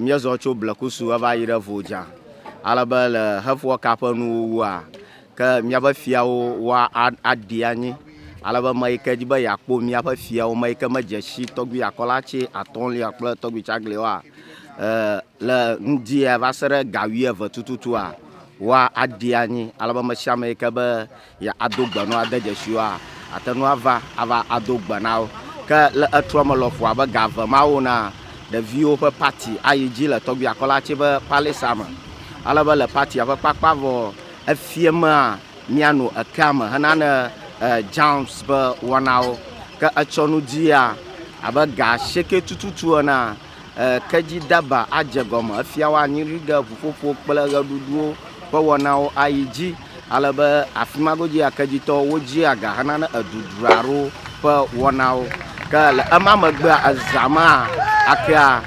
Míezɔ tso Blekusu heva yi ɖe Vodza, ale be le heƒua ka ƒe nuwuwua, ke míaƒe fiawo wa a aɖi anyi, ale be ame yi ke di be yeakpɔ míaƒe fiawo, ame yi ke medze si tɔgbui Akɔlatse atɔ̃lia kple tɔgbui Tsaglewoa e le ŋdia va se ɖe ga wuieve tututua, wa aɖi anyi, ale be ame sia ame yi ke be ya ado gbe na wo ade dzesi wo ate ŋu ava ava ado gbe na wo. Ke le etrɔ me lɔƒo abe ga eve ma wo na ɖeviwo ƒe pati ayi dzi le tɔgbi akɔla tse ƒe palisa me. Ale be le patia ƒe kpakpa vɔ efie mea míano ekea me hena ne jams ƒe wɔnawo. Ke etsɔ nu dia abe ga sheke tututu ena. Kedzidaba adze egɔme. Efia woanyi nu ɖe ŋuƒoƒo kple ʋeɖuɖuwo ƒe wɔnawo ayi dzi ale be afi ma godzi ya kedzitɔwo wodzia ga henane edudra aɖewo ƒe wɔnawo. Ke le ema megbea, ezã mea akea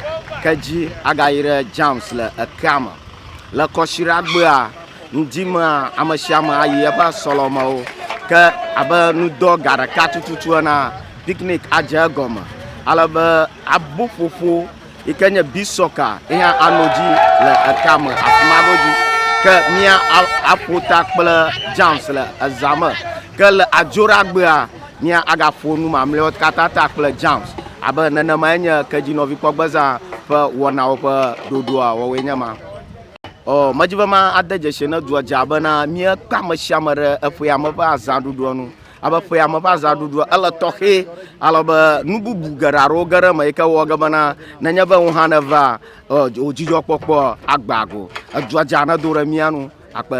kedzi agayi ɖe Jams le ekea me. Le kɔsiɖagbea ŋdi mea, ame sia ame ayi eƒe sɔlɔmewo. Ke abe nudɔ ga ɖeka tututu enea, picnic adze egɔme ale be Aboƒoƒo yi ke nye beach soccer yi hã anɔ dzi le eka me afi ma godzi. Ke mía aƒo ta kple James le eza me. Ke le adzoɖagbea mía agaƒo nu mamlɛwo katã ta kple James. Abe nenemae nye kedzinɔvikpɔgbezã ƒe wɔnawo ƒe ɖoɖoa wɔwoe nye ma. Ɔ, medi be ma ade dzesi ne dua dza bena míekpe ame sia ame ɖe eƒea me ƒe azãɖuɖua nu. Alebe ƒea me ƒe azãɖuɖua, ele tɔxɛ, alebe nu bubu geɖe aɖewo ge ɖe eme yi ke wɔ ge bena nenye be ŋuhã nèvea, ɔ, wò dzidzɔkpɔkpɔ agbã go. Edua dze anɔ do ɖe mía nu akpe.